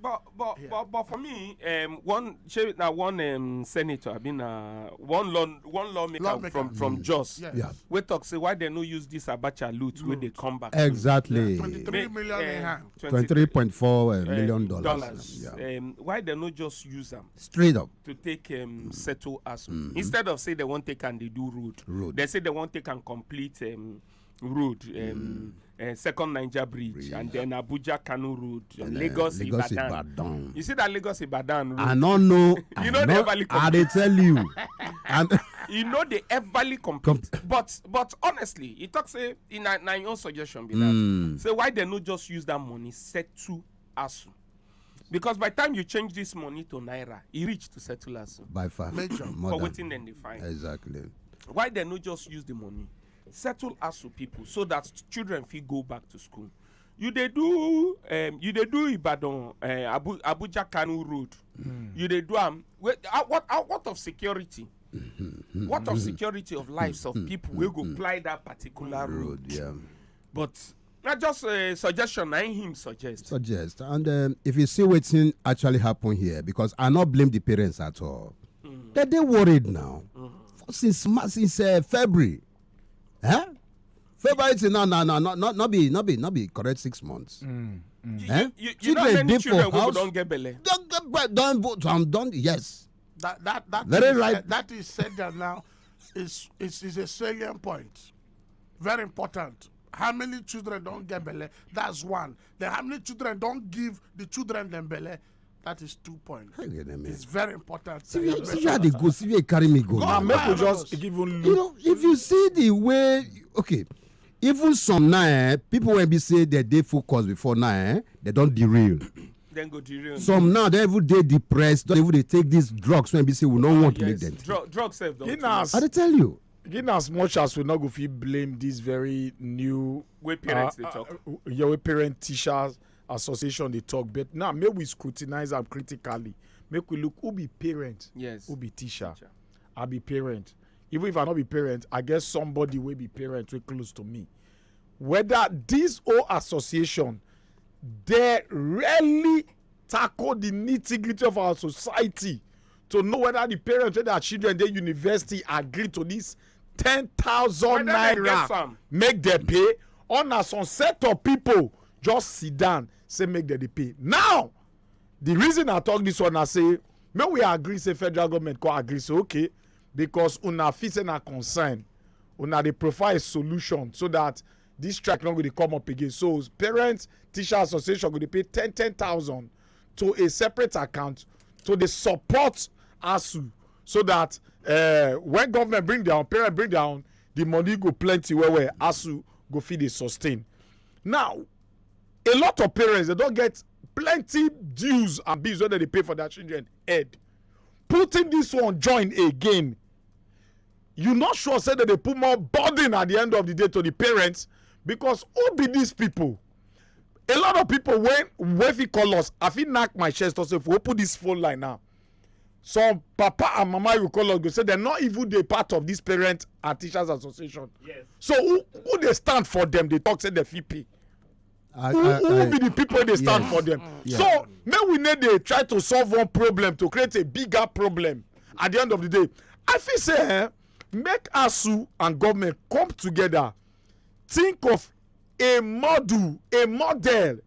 but but yeah. but but for me um, one shey na one um, senator i mean na one law one lawmaker, lawmaker. from from mm. jos yes. yeah. wey talk say why dem no use this abacha loot wey dey come back exactly twenty-three million in eh, hand twenty-three point four eh, eh, million dollars yeah. um, why dem no just use am straight up to take um, settle aso mm-hmm. instead of say dem wan take am dey do road road dem say dem wan take am complete um, road um, mm. uh, second niger bridge, bridge, and then abuja kanu road and, and uh, lagos, uh, lagos ibadan. ibadan you see that lagos ibadan road i no know you know the everly compare i dey tell you and you know the everly compare Comp but but honestly e talk say in na na your own suggestion be that mm. say why dem no just use that money settle asu because by time you change this money to naira e reach to settle asu. by far for wetin dem dey find. exactly. why dem no just use the money. settle asu people so that children fit go back to school you dey do um, you dey do ibadan uh, Abu, abuja kanu road mm. you dey do am um, uh, what uh, what of security mm-hmm. what of mm-hmm. security of lives of mm-hmm. people wey go fly that particular road, road yeah. but na just a suggestion na him suggest. suggest and um, if you see wetin actually happen here because i no blame the parents at all. Mm. dem dey worried now mm. since since uh, february. Eh? february till now na na no no no be no be no be correct six months. Mm. Mm. Eh? You, you, you children dey for house don get belle. don get belle don vote am don yes. that that that very is, right. that is said that now is is is a salient point very important how many children don get belle that's one then how many children don give the children dem belle that is two point it's very important see where see where i dey go see where e carry me go now make we just give even you know if you see the way okay even some now eh, people wey be say dem dey focus before now eh, dem don derail then go derail. some now they even dey depressed don even dey take these drugs wey be say we no ah, want make dem take. drugs sef don too much. i dey tell you. in as much as we not go fit blame this very new way parents uh, dey talk uh, your way parent teachers association dey talk but now make we scrutinize am critically make we look who be parent yes who be teacher, teacher. i be parent even if i no be parent i get somebody wey be parent wey close to me whether this whole association dey really tackle the nitty gritty of our society to know whether the parents wey their children dey university agree to this ten thousand naira make dem pay or na some set of people just sit down say make dem dey pay now the reason i talk this one na say make we agree say federal government come agree say okay because una fit say na concern una dey provide a solution so that this strike no go dey come up again so parents teacher association go dey pay ten ten thousand to a separate account to the support asu so that uh, when government bring their own parent bring their own the money go plenty well well asu go feed the sustain now a lot of parents they don't get plenty dues and bills wey they pay for their children head putting this one join again you not sure say that they put more burden at the end of the day to the parents because who be these people a lot of people wey wey fit call us i fit knack my chest talk say if we open this phone line now some papa and mama you call us go say dem no even dey part of this parent and teachers association Yes. so who who dey stand for them dey talk say dem fit pay I, who I, who I, be the people wey dey stand Yes. for them Yeah. so make we no dey try to solve one problem to create a bigger problem at the end of the day i feel say eh, make asu and government come together think of a model a model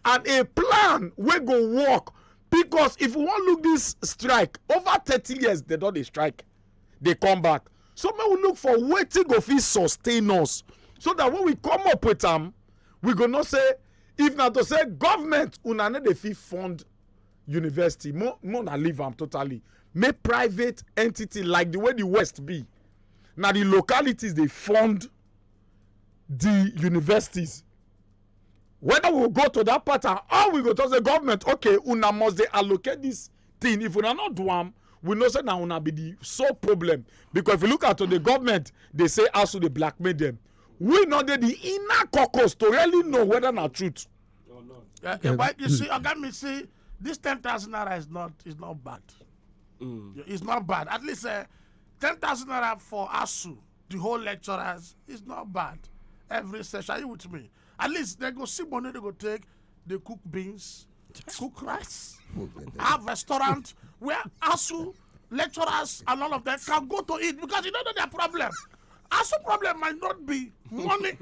and a plan wey go work because if we wan look this strike over thirty years they don dey strike dey come back so make we look for wetin go fit sustain us so that when we come up with am we go know say if na to say government una no dey fit fund university mo mo na leave am totally make private entity like the way the west be na the localities dey fund the universities whether we go to that pattern or we go to the government okay una must they allocate this thing if una not do am we know say na una be the sole problem because if you look at to the government they say as to dey blackmail them we no dey the inner caucus to really know whether na truth. Oh, no. yeah, yeah, but you see oga me see this ten thousand naira is not is not bad mm. it's not bad at least uh, ten thousand naira for asu the whole lecturers is not bad every session are you with me at least they go see money they go take they cook beans cook rice have restaurant where asu lecturers and all of them can go to eat because you don't know their problem asu problem might not be money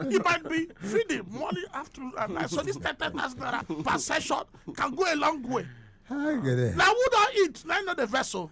it might be feeding money after and night so this ten ten thousand naira per session can go a long way Hi, Gede. na who don eat na him know the vessel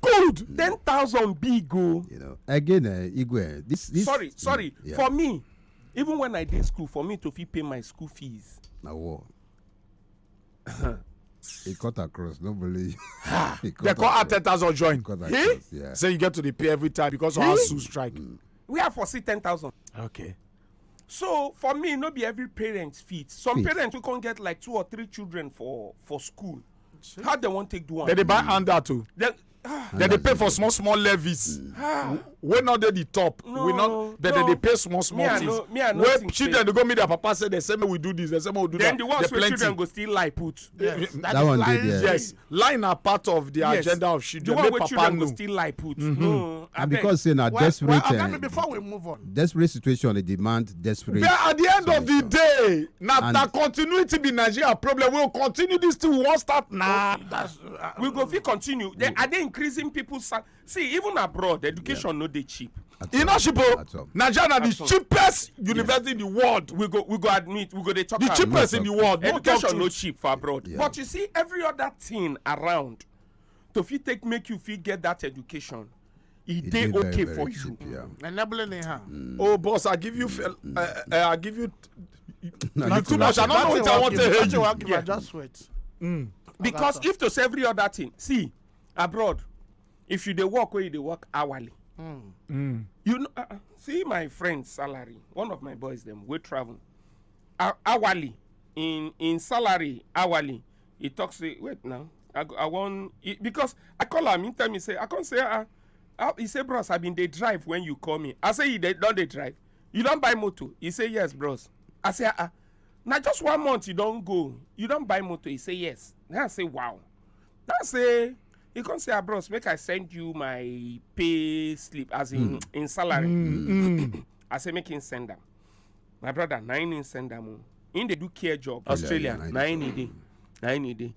good ten thousand big o. you know again uh, igwe this this. sorry sorry mm, yeah. for me even when i dey school for me to fit pay my school fees. na war. He cut across no believe. they call her ten thousand join. He? Yeah. So you get to the pay every time because of our zoo strike. Mm. We are for see ten thousand. Okay. So for me, no be every parent fit. Some fit. parents we can get like two or three children for for school. how dem wan take do am. dem dey buy handout o. dem ah. dey pay for small small levies mm. ah. wey no dey the top we no dem dey pay small small things wey children dey go meet their papa say dem say make we do this dem say make we do that then the ones wey children go still lie put yes that one dey there yes lie na part of the agenda of children make papa know the one wey children go still lie put mm-hmm. no and because say na desperate eh, before we move on desperate situation dey demand desperate. but at the end of the day na na continuity be nigeria problem we go continue this thing we wan start na. Uh, we go fit continue they, are they increasing people see even abroad education yeah. no dey cheap. e no cheap o nigeria na the cheapest university in the world we go we go admit we go dey talk am. the cheapest in the world no talk education no cheap for abroad yeah. but you see every other thing around to fit take make you fit get that education e dey okay for you enabling in her mm. oh boss i give you uh, uh, i give you you too much i don't know what i want to hear you yeah. just wait mm. because if to say every other thing see abroad if you dey work wey you dey work hourly mm. Mm. you know uh, uh, see my friend salary one of my boys dem wey travel uh, hourly in in salary hourly he talk say wait now i go i wan e- because i call am he tell me say i come say ah ah he say bros i bin dey drive when you call me i say you dey don dey drive you don buy motor he say yes bros i say ah ah na just one month you don go you don buy motor he say yes then i say wow then i say he come say ah bros make i send you my pay slip as in mm. in salary mm. i say make him send am my brother na him him send am o him dey do care job australia yeah, na him he dey na him he dey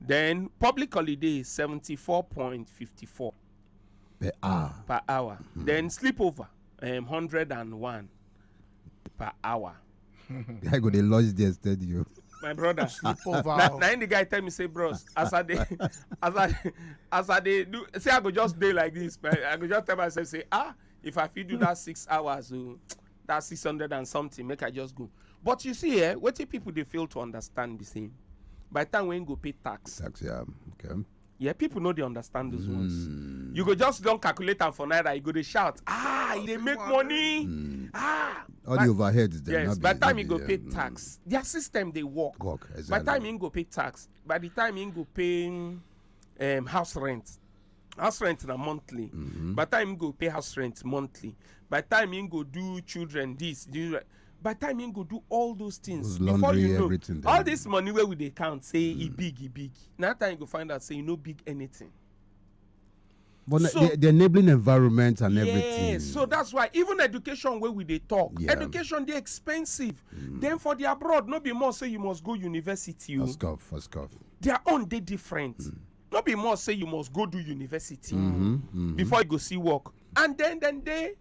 then public holiday is seventy four point fifty four per hour per hour hmm. then sleepover um, hundred and one per hour. i go dey lodge there steady you. my brother sleepover na na him the guy tell me say bros as i dey as i as i dey do say i go just dey like this but i go just tell myself say ah if i fit do that six hours o oh, that 600 and something make i just go but you see eh wetin people dey fail to understand be say by the time wey go pay tax tax yeah okay yeah people no dey understand those mm. ones hmm. you go just don calculate am for naira you go dey shout ah e dey make money mm. ah all the overheads dem yes by the time you go pay hmm. tax their system dey work work exactly by the time you go pay tax by the time you go pay um, house rent house rent na monthly mm-hmm. by time you go pay house rent monthly by time you go do children this do by time you go do all those things those before laundry, you know all this money where we dey count say e mm. e big e big na time you go find out say you no big anything. but so, the, the enabling environment and yeah, everything. so that's why even education wey we dey talk yeah. education dey expensive mm. then for the abroad no be more say you must go university o. Oh. first off first off. their own dey different. Mm. no be must say you must go do university mm-hmm, mm-hmm. before you go see work and then then they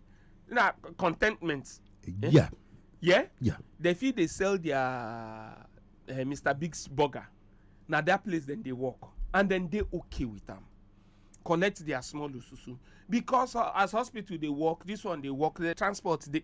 na contentment eh? yeah yeah yeah they feel they sell their uh, eh, mr big's burger na that place then they work and then they okay with them collect their small ususu because uh, as hospital they work this one they work the transport they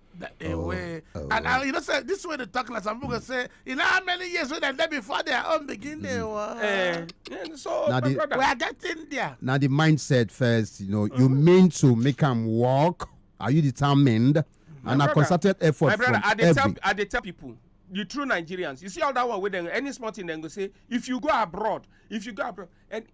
That they Oh, way. oh. And I, you know, say, this way they talk like some people go say, you know how many years when they there before their own begin they were. Eh, eh, so, Now my the- brother, We are getting there. Now the mindset first, you know, you Mm-hmm. mean to make them walk. Are you determined? And a brother, concerted effort my brother, from I dey every. tell, I dey tell people, the true Nigerians, you see all that one with them, any small thing, they go say, if you go abroad, if you go abroad, and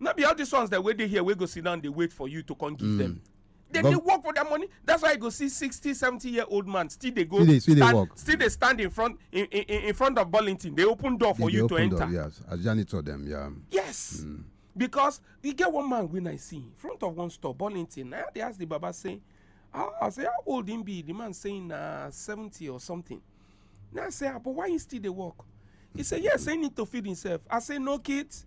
no be all these ones that wey dey here wey go sit down dey wait for you to come give mm. them dem dey work for their money that's why you go see sixty seventy year old man still dey go still dey work still dey stand in front in in in front of burlington dey open door for you to enter yes as janitor dem yeah yes mm. because e get one man wey i see in front of one store burlington na dey ask the baba say ah i say how old him be the man say na seventy or something na i say ah but why he still dey work he say yes he need to feed himself i say no kids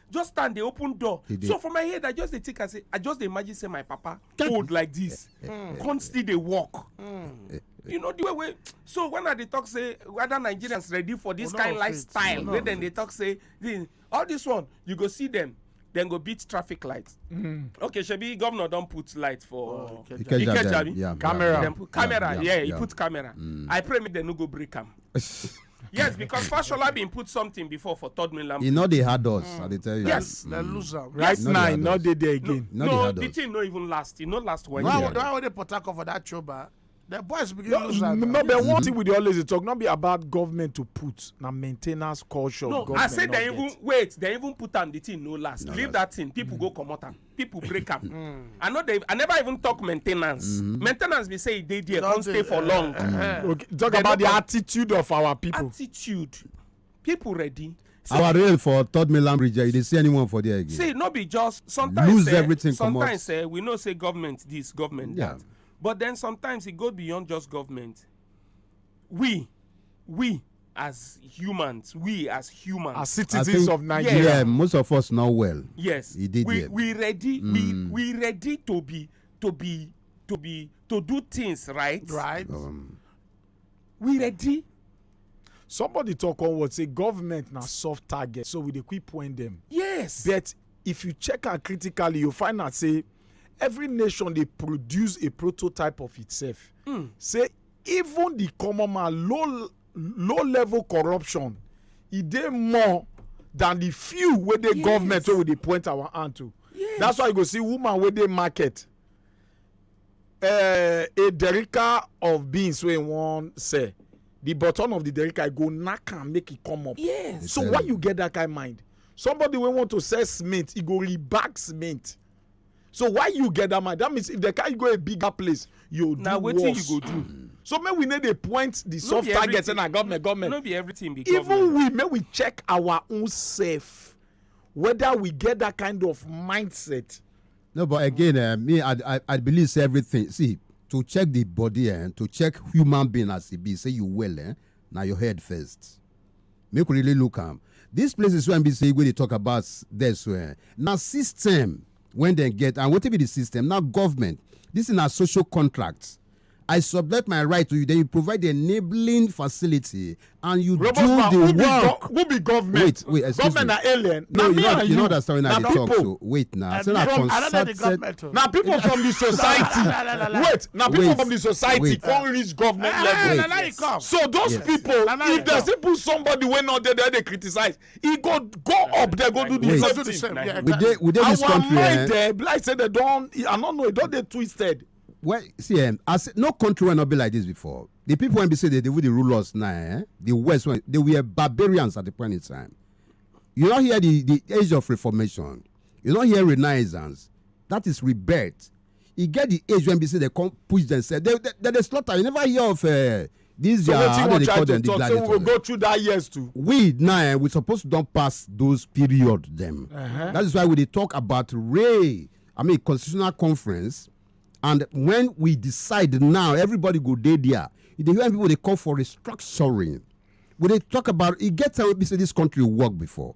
just stand dey open door so for my head i just dey think i say i just dey imagine say my papa old like this hmm. come still dey work hmm. you know the way wey so when i dey talk say whether nigerians ready for this oh, kind lifestyle wey dem dey talk say all this one you go see them then go beat traffic light. Mm. Okay, Shebi, governor don't put light for oh, Ikeja. Yeah, camera. Yeah, camera, yeah, yeah, yeah, he put camera. Mm. I pray me they no go break him. yes because fashola bin put something before for third mainland. e no dey hard us i dey tell you. yes na mm. lose am. right now e no dey there again. no no the thing no even last e no last one year. why why dey port harcourt for that choba. The boys begin no, lose am. No, but one thing we dey always talk not be about government to put na maintenance culture. No, I say they even wait, they even put am the thing no last. No, Leave that thing, people mm. go comot am. people break am hmm. i no dey i never even talk maintenance hmm. maintenance be say e dey there come stay for long eh, eh. talk about the attitude of our people attitude people ready our rail for third mainland bridge you dey see anyone for there again see no be just sometimes lose eh, everything sometimes we know say government this government that but then sometimes e go beyond just government we we as humans we as humans as citizens think, of nigeria yeah, most of us know well yes he did we, yet. we ready mm. we hmm. we ready to be to be to be to do things right right um, we ready somebody talk on what say government na soft target so we dey quick point them. yes but if you check am critically you find out say every nation dey produce a prototype of itself mm. say even the common man low low level corruption e dey more than the few wey dey yes. government wey we dey point our hand to yes. that's why you go see woman wey dey market uh, a derica of beans wey wan sell the bottom of the derica go knack am make e come up yes. so why you get that kind mind somebody wey want to sell cement e go rebag cement so why you get that mind that means if they carry go a bigger place you do worse wetin you go do so make we no dey point the soft target say na government government no be everything be government even we make we check our own self whether we get that kind of mindset no but again uh, me I, I i believe say everything see to check the body and eh, to check human being as e be say you well eh na your head first make we really look am these places wey be say wey dey talk about there so eh, na system when dem get and wetin be the system na government this na social contract i subject my right to you then you provide the enabling facility and you Robert do man, the who be work go- who be government? wait wait excuse Government me na alien. no Na you me no and you no you. understand when i Na dey talk people. so wait na I say na don't- I don't know the concerted government na people from the society wait na people wait, from the society wait. come reach government ah, level wait, so those yes. people if they still put somebody wey no dey there dey criticize e go go up there go do the same thing same. Yeah, exactly. we dey this country our mind eh? like say they don i no know e don dey twisted. well see um, as no country wey no be like this before the people wey be say they dey rule us now eh? the west wey they were barbarians at the point in time you no hear the the age of reformation You don hear renaissance? That is rebirth. E get the age when be say they come push themselves. They they, they, slaughter. You never hear of uh, these so uh, how do they call them? Talk, the so we will go through that years too. We now eh, we supposed to don't pass those period them. Uh -huh. That is why we dey talk about Ray. I mean constitutional conference, and when we decide now, everybody go dey there. You dey hear people they call for restructuring. We dey talk about it. Get time we say this country work before.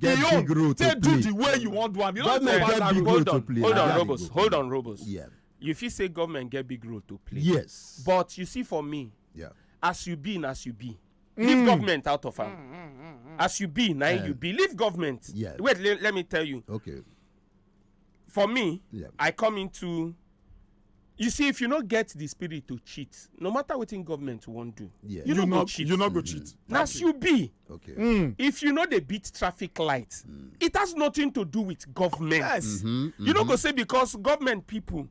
Get the big role to take do play. the way you wan do am you no Government go get back big am. role hold to on play, hold na on that robos they go hold play. on robos Yeah. you fit say government get big role to play Yes. but you see for me Yeah. as you be na as you be Mm. leave government out of am as you be na im you be leave government Yes. wait le let me tell you Okay. for me Yeah. i come into you see if you no get the spirit to cheat no matter wetin government wan do Yeah. you no go cheat you no go cheat. na as you be Okay. Hmm. if you no dey beat traffic light it has nothing to do with government Yes. you no go say because government people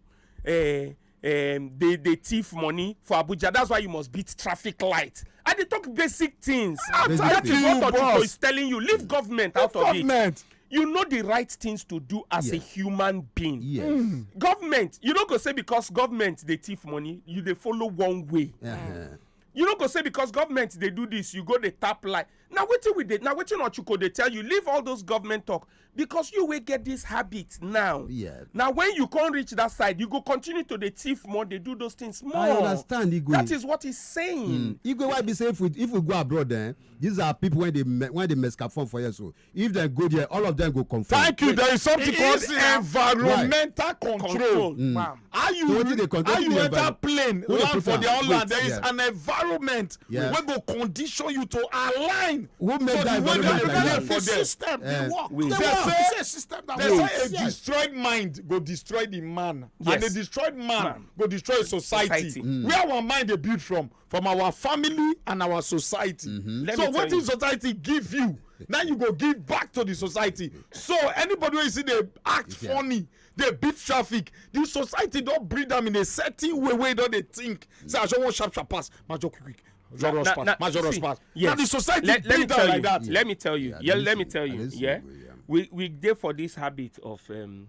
uh, um, they they thief money for abuja that's why you must beat traffic light i dey talk basic things ah, basic that thing. is what ojuko is telling you leave government leave out of government. it you know the right things to do as yes. a human being yes mm. government you no go say because government dey thief money you dey follow one way uh -huh. you no go say because government dey do this you go dey tap like na wetin we dey na wetin ochuko dey tell you leave all those government talk because you wey get this habit now yeah. na when you come reach that side you go continue to dey thief more dey do those things more i understand igwe that is what he's saying mm. igwe why be say if we if we go abroad eh these are people when they when they mess up for here so if they go there all of them go confirm. thank you there is something called environmental control, control. Mm. how you So wetin dey con- how wetin you dey enter environment? plane Who dey land put for am? their own Wait, land there is yeah. an environment Yeah. wey go condition you to align Who make to that the way environment they like behave that? for the them system Eh, dey work wait. dey They work say- it's a system that they works say a yes. destroyed mind go destroy the man and Yes. a destroyed man, Man. go destroy society, Society. Mm. where our mind dey build from from our family and our society Mm-hmm. Let so me tell wetin you. society give you na you go give back to the society so anybody wey you see dey act Yeah. funny dey beat traffic the society don breed am in a certain way wey don dey think say i just wan sharp sharp pass ma just quick quick just rush pass ma just rush pass na the society let, breed am like that. let me tell you yeah, let me tell you yeah we we dey for this habit of um,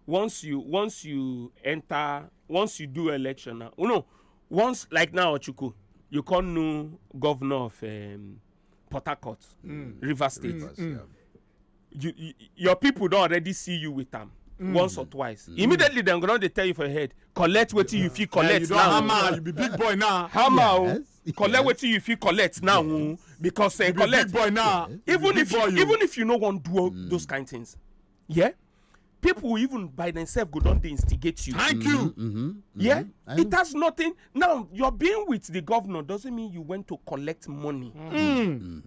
once you once you enter once you do election now oh no once like now ochuku you come know governor of um, port harcourt mm. river state mm. Mm. you, you your people don already see you with am mm. once or twice mm. immediately dem go don dey tell you for your head collect wetin yeah. you fit collect yeah, you now hammer you be big boy now hammer o oh. yes. collect wetin you fit collect now o oh. because uh, you collect be big boy now yes. even if you, you even if you no wan do mm. those kind things yeah people even by themselves go don dey instigate you. thank you. Mm -hmm, mm -hmm, yeah mm -hmm. it has nothing now your being with the governor doesn't mean you went to collect money. Mm. Mm.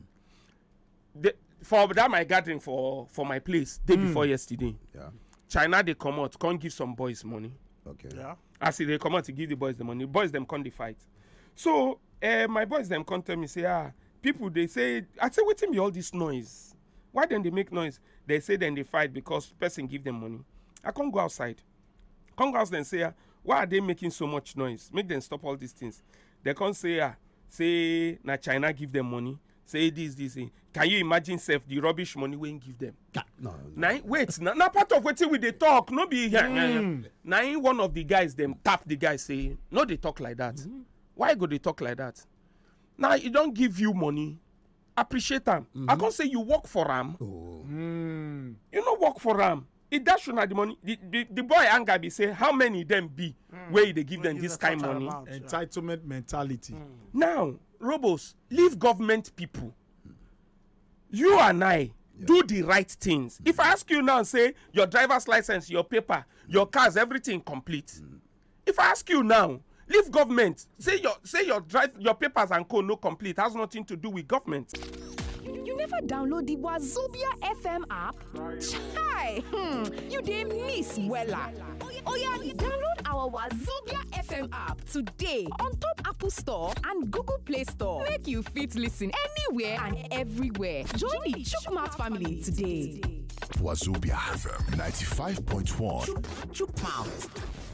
the, for that my gathering for for my place day mm. before yesterday yeah. china dey comot come give some boys money okay yeah. as e dey comot e give the boys the money boys dem come dey fight so uh, my boys dem come tell me say ah people dey say i say wetin be all this noise why dem dey make noise they say dem dey fight because person give them money i come go outside come go outside and say ah why are they making so much noise make dem stop all these things they come say ah say na china give them money say this this thing can you imagine sef the rubbish money wey him give them. Ah, no, no. na wait na na part of wetin we dey talk no be here. Mm. na him one of the guys dem tap the guy say no dey talk like that mm. why go dey talk like that na e don give you money appreciate am mm -hmm. i mm-hmm. come say you work for am. Oh. Mm. you no work for am he dash una the money the the, the boy anger be say how many dem be mm. wey he dey give them this kind money. Amount, entitlement yeah. mentality. Mm. now robos leave government people you and i yeah. do the right things mm. if i ask you now say your driver's license your paper your cars everything complete. Mm. if i ask you now leave government say your say your drive your papers and co no complete has nothing to do with government. you never download the wazobia fm app chai hmm you dey miss wella oya download our wazobia fm app today on top apple store and google play store make you fit listen anywhere and everywhere join the chukwumouth family today. Wazobia FM 95.1. Chukwumouth.